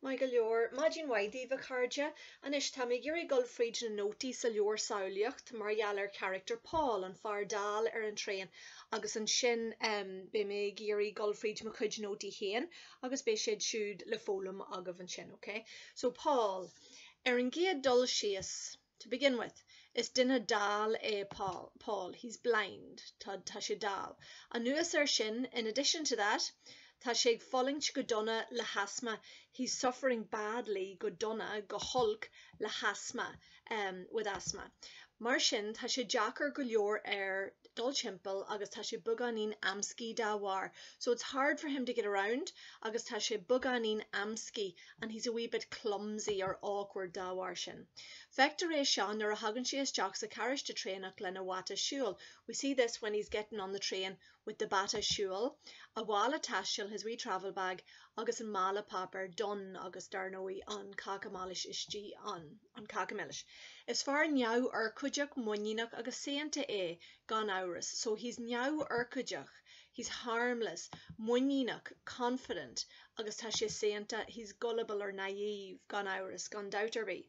Maith go leor. Maidin mhaith daoibh, a chairde. Anois, táim ag iarraidh dul fríd na nótaí sa leabhar Samhlaíocht mar gheall ar charachtar Paul, an fear dall ar an traein, agus ansin ehm, beidh mé ag iarraidh dul fríd mo chuid nótaí féin agus beidh siad siúd le foghlaim agaibh ansin, ok? So, Paul, ar an gcéad dul síos. To begin with, is duine dall é Paul, he's blind, tá, tá sé dall. Anuas air sin, in addition to that, tá sé ag fulaingt go dona le hasma, he's suffering badly, go dona, go holc, le hasma, em, with asthma. Mar sin, tá sé deacair go leor air dul timpeall agus tá sé beagáinín amscaí dá bharr, so it's hard for him to get around agus tá sé beagáinín amscaí, and he's a wee bit clumsy or awkward dá bharr sin. Feictear é seo nuair a thagann sé isteach sa charráiste traenach lena bhata siúil, we see this when he's getting on the train with the bata siúil, a mhála taistil, his wee travel bag, agus an mála páipéir, donn, agus, dar ndóigh, an cáca milis istigh ann, an cáca milis. Is fear neamhurchóideach, muiníneach agus saonta é, gan amhras, so he's neamhurchóideach, he's harmless, muiníneach, confident, agus tá sé saonta, he's gullible or naive, gan amhras, gan dabht ar bith.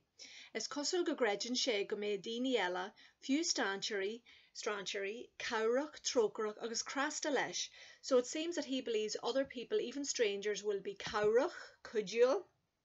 Is cosúil go gcreideann sé go mbeidh daoine eile, fiú strainséirí, strainséirí, cabhrach, trócaireach agus cneasta leis, so it seems that he believes other people, even strangers, will be cabhrach, cuidiúil,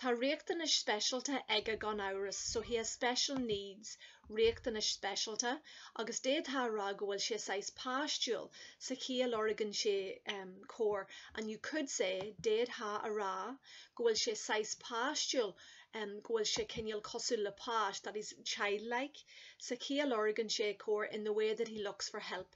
Tá riachtanais speisialta aige gan amhras, so he has special needs, riachtanais speisialta, agus d'fhéadfá a rá go bhfuil sé saghas páistiúil, sa chaoi a lorgann sé cabhair, and you could say, d'fhéadfá a rá, go bhfuil sé saghas páistiúil, go bhfuil sé cineál cosúil le páiste, that he's childlike, sa chaoi a lorgann sé cabhair, in the way that he looks for help.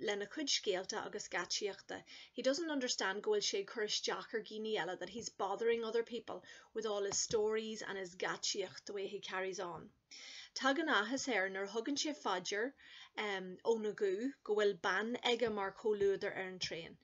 lena chuid scéalta agus geaitsíochta, he doesn't understand go bhfuil sé ag cur isteach ar dhaoine eile, that he's bothering other people with all his stories and his geaitsíocht, the way he carries on. Tagann áthas air nuair a thugann sé faoi deara um, óna guth go bhfuil bean aige mar chomhluadar ar an traein.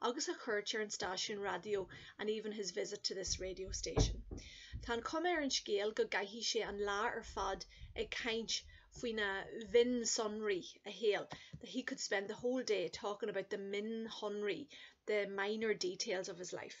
agus a chuairt ar an stáisiún raidió and even his visit to this radio station. Tá an chuma ar an scéal go gcaithfidh sé an lá ar fad ag caint faoi na mionsonraí, a shaol, that he could spend the whole day talking about the mionshonraí, the minor details of his life.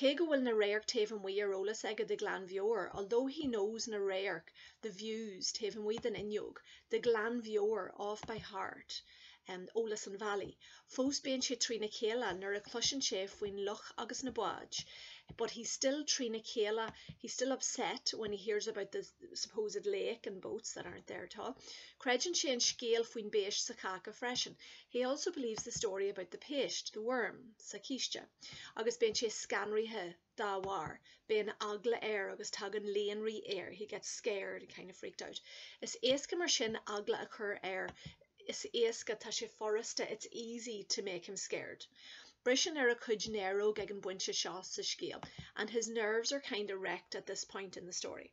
Cé go bhfuil na radhairc taobh amuigh ar eolas aige de ghlanmheabhair, although he knows na radhairc, the views taobh amuigh den fhuinneog, de ghlanmheabhair off by heart eolas an bhealaigh, fós bíonn sé trína chéile nuair a chloiseann sé faoin loch agus na báid but he's still trína chéile, he's still upset when he hears about the supposed lake and boats that aren't there at all creideann sé an scéal faoin bpéist sa cháca freisin, he also believes the story about the péist, the worm. sa chíste, agus bíonn sé scanraithe dá bharr, bíonn eagla air agus tagann líonrith air, he gets scared and kind of freaked out. Is éasca mar sin eagla a chur air, is éasca, tá sé furasta, it's easy to make him scared. Briseann ar a chuid néaróg ag an bpointe seo sa scéal, and his nerves are kind of wrecked at this point in the story.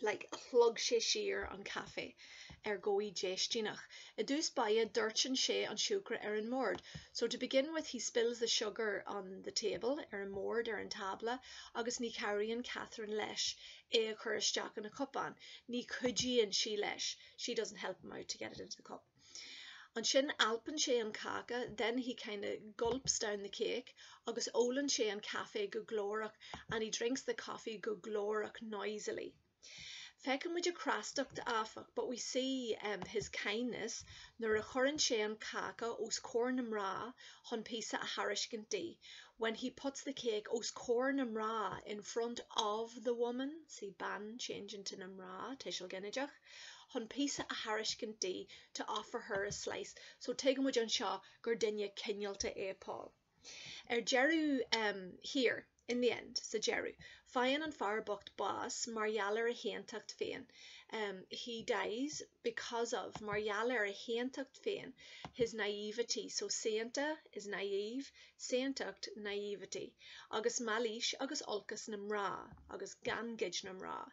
like shlog sé siar an caife ar dhóigh déistíneach. I dtús báire doirteann sé an siúcra ar an mbord, So to begin with he spills the sugar on the table, ar an mbord, ar an tábla, agus ní chabhraíonn Catherine leis é a chur isteach ina chupán, ní chuidíonn sí leis, she doesn't help him out to get it into the cup. Ansin alpann sé an cáca, then he kind of gulps down the cake, agus ólann sé an caife go glórach, and he drinks the coffee go glórach, noisily. Feiceann muid a chneastacht, áfach, but we see, em, his kindness, nuair a chuireann sé an cáca os comhair na mná chun píosa a thairiscint di, when he puts the cake os comhair na mná, in front of the woman, see bean, changed into na mná, tuiseal ginideach. chun píosa a thairiscint di to offer her a slice, so tuigeann muid anseo gur duine cineálta é Paul. Ar deireadh, em, here, in the end, sa deireadh, faigheann an fear bocht bás mar gheall ar a shaontacht féin, em, he dies because of, mar gheall ar a shaontacht féin, his naïveté, so saonta, is naïve, saontacht, naïveté, agus mailís agus olcas na mná, agus gangaid na mná,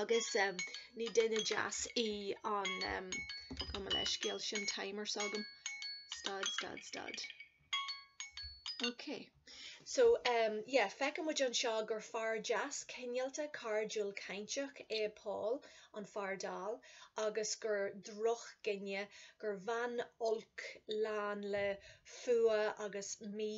agus ní duine deas í an Gabh mo leithscéal sin timer s'agam stad stad stad Ok so yeah feiceann muid anseo gur fear deas cineálta cairdiúil cainteach é Paul an fear dall agus gur drochdhuine gur bhean olc lán le fuath agus mí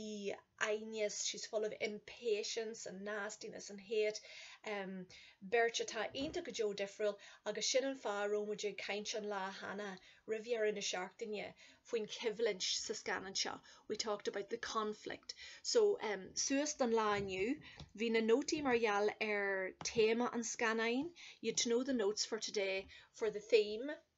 fhoighne, she's full of impatience and nastiness and hate, beirt atá iontach go deo difriúil agus sin an fáth a raibh muid ag caint an lá cheana, roimh dheireadh na seachtaine, faoin choimhlint sa scannán seo, we talked about the conflict so suas don lá inniu, bhí na nótaí mar gheall ar théama an scannáin, you had to know the notes for today for the theme.